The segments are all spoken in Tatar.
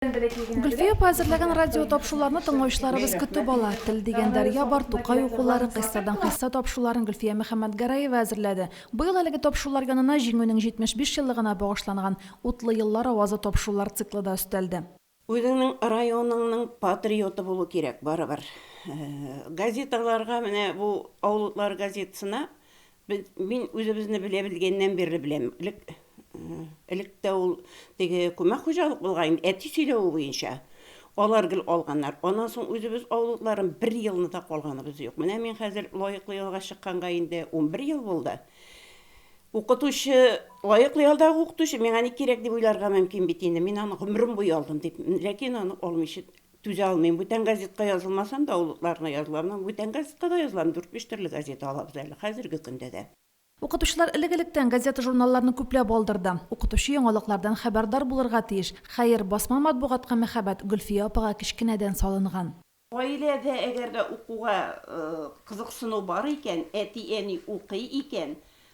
Гөлфия апа әзерләгән радио тапшуларны тыңлаучыларыбыз көтеп ала. Тел дигән дәрья бар, Тукай укулары, Кыйссадан кыйсса тапшуларын Гөлфия Мөхәммәтгәрәева әзерләде. Быел әлеге тапшулар янына Җиңүнең 75 еллыгына багышланган Утлы еллар авазы тапшулар циклы да өстәлде. Үзеңнең районыңның патриоты булу кирәк барыбер. Газеталарга, менә бу Авыл утлары газетасына Без, мин үзебезне белә белгәннән бирле беләм. Элек, элек тә ул теге күмәк хуҗалык булган инде, әти сөйләве буенча. Алар гел алганнар. Аннан соң үзебез авылларым бер елны да калганыбыз юк. Менә мин хәзер лаеклы ялга чыкканга инде унбер ел булды. Укытучы, лаеклы ялдагы укытучы миңа ни кирәк дип уйларга мөмкин бит инде. Мин аны гомерем буе алдым дип, ләкин аны алмыйча Түзә алмыйм. Бүтән газетка язылмасам да, авылыкларына язылам. Менә бүтән газетка да язылам. Дүрт-биш төрле газета алабыз әле, хәзерге көндә дә. Укытучылар элек-электән газета-журналларны күпләп алдырды. Укытучы яңалыклардан хәбәрдар булырга тиеш. Хәер, басма матбугатка мәхәббәт Гөлфия апага кечкенәдән салынган. Гаиләдә әгәр дә укуга кызыксыну бар икән, әти-әни укый икән,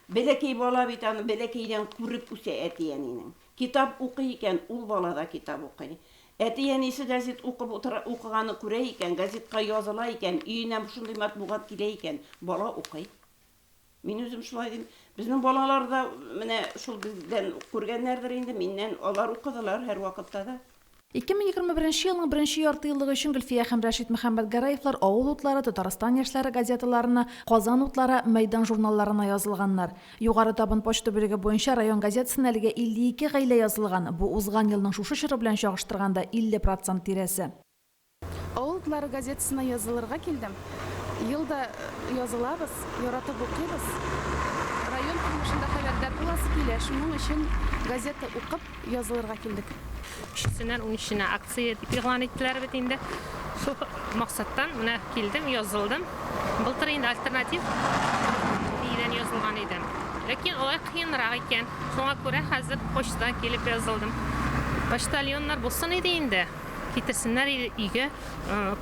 бәләкәй бала бит аны бәләкәйдән күреп үсә әти-әнинең. Китап укый икән, ул бала да китап укый. Әти-әнисе гәзит укып утыра, укыганны күрә икән, гәзитка языла икән, өенә шундый матбугат килә икән, бала укый. Мин үзем шулай дим. Безнең балалар да менә шул бездән күргәннәрдер инде, миннән, алар укыдылар һәрвакытта да. 2021 елның беренче яртыеллыгы өчен Гөлфия һәм Рәшит Мөхәммәтгәрәевлар Авыл утлары, Татарстан яшьләре газеталарына, Казан утлары, Мәйдан журналларына язылганнар. Югары Табын почта бүлеге буенча район газетасына әлегә 52 гаилә язылган, бу узган елның шушы чоры белән чагыштырганда 50 процент тирәсе. Авыл утлары газетасына язылырга килдем. Ел да язылабыз, яратып укыйбыз. Район тормышында хәбәрдар буласы килә, шуның өчен газета укып, язылырга килдек. Өчесеннән унөченә акция дип игълан иттеләр бит инде. Шул максаттан менә килдем, язылдым. Былтыр инде альтернатив биредән язылган идем. Ләкин алай кыенрак икән. Шуңа күрә хәзер почтадан килеп язылдым. Почтальоннар булсын иде инде, китерсеннәр өйгә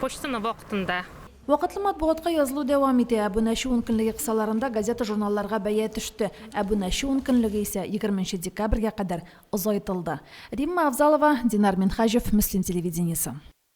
почтаны вакытында. Вакытлы матбугатка язылу дәвам итә. Әбунәче ункөнлеге кысаларында газета-журналларга бәя төште. Әбунәче ункөнлеге исә егерме нче декабрьгә кадәр озайтылды. Римма Авзалова, Динар Минһаҗев, Мөслим телевидениесе.